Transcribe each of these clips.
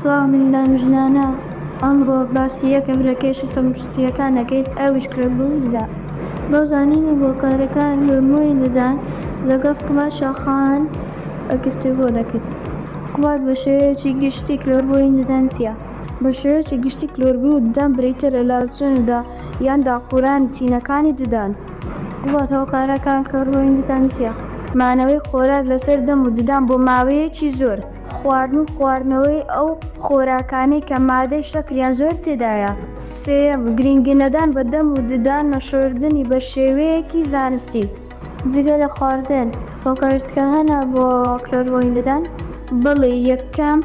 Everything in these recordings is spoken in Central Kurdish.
سڵاو مندان و ژنانە ئەمڕۆ باسی یەکێک لە کێشە تەندروستییەکان دەکەین ئەویش کوێبوونیدە بۆ زانین و هۆکارەکان بۆ مووی ددان لەگەڵ قوباد شاخان گفتوگۆ دەکەین قوباد بە شێوەیەکی گشتی کلۆربوونی ددان چییە؟ بە شێوەیەکی گشتی کلۆربوونی ددان بریتییە لە لاسچوون و دا یان داخورانی چینەکانی ددان. قوباد هۆکارەکان کلۆربوونی ددان چییە؟ مانەوەی خۆراک لەسەر دەم و ددان بۆ ماوەیەکی زۆر. خواردن و خواردنەوەی ئەو خۆراکانەی کە مادەی شەکریان زۆر تێدایە. سێیەم، گرنگینەدان بە دەم و ددان نەشۆردنی بە شێوەیەکی زانستی. جگە لە خواردن هۆکارتکە هەنە بۆ کلۆربۆین ددان؟ بەڵێ، یەکەم،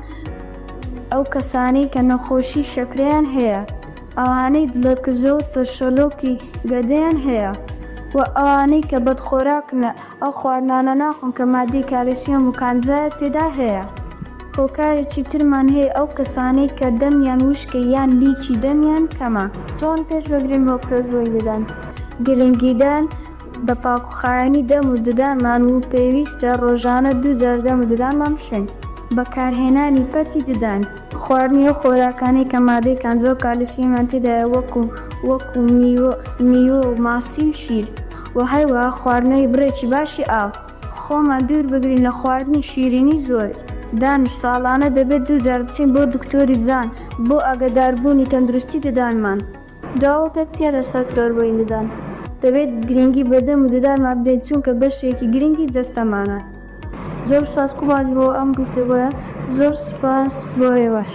ئەو کەسانەی کە نەخۆشی شەکرەیان هەیە، ئەوانەی دڵەکزە و ترشەلۆکی گەدەیان هەیە و ئەوانەی کە بەدخۆراکنە. ئەو خواردنانە ناخۆن کە ماددەی کالسیۆم و کانزا تێدا هەیە. هۆکارێکی ترمان هەیە ئەو کەسانەی کە دەمیان وشکە یان لیکی دەمیان کەمە. چۆن پێش بەگرین بۆ پێشبڕی ددان؟ گرنگیدان بە پاکوخاوێنی دەم و ددانمان و پێویستە ڕۆژانە دوو جار دەم و ددانمان بشۆین. بەکارهێنانی پەتی ددان. خواردنی ئەو خۆراکانەی کە مادەی کانزا و کالسیۆمیان تێدایە وەکو میوە و ماسی و شیر. وە هەروەها خواردنەوەی بڕێکی باشی ئاو. خۆمان دوور بگرین لە خواردنی شیرینی زۆر. دانیش، ساڵانە دەبێت دوو جار بچین بۆ دکتۆری ددان بۆ ئاگەدار بوونی تەندروستی ددانمان. داوەکە چیە لەسەر کلۆربوونی ددان؟ دەبێت گرینگی بە دەم و ددانمان بدەین چونکە بەشێکی گرینگی جەستەمانە. زۆر سوپاس قوباد بۆ ئەم گفتوگۆیە. زۆر سوپاس بۆ ئێوەش.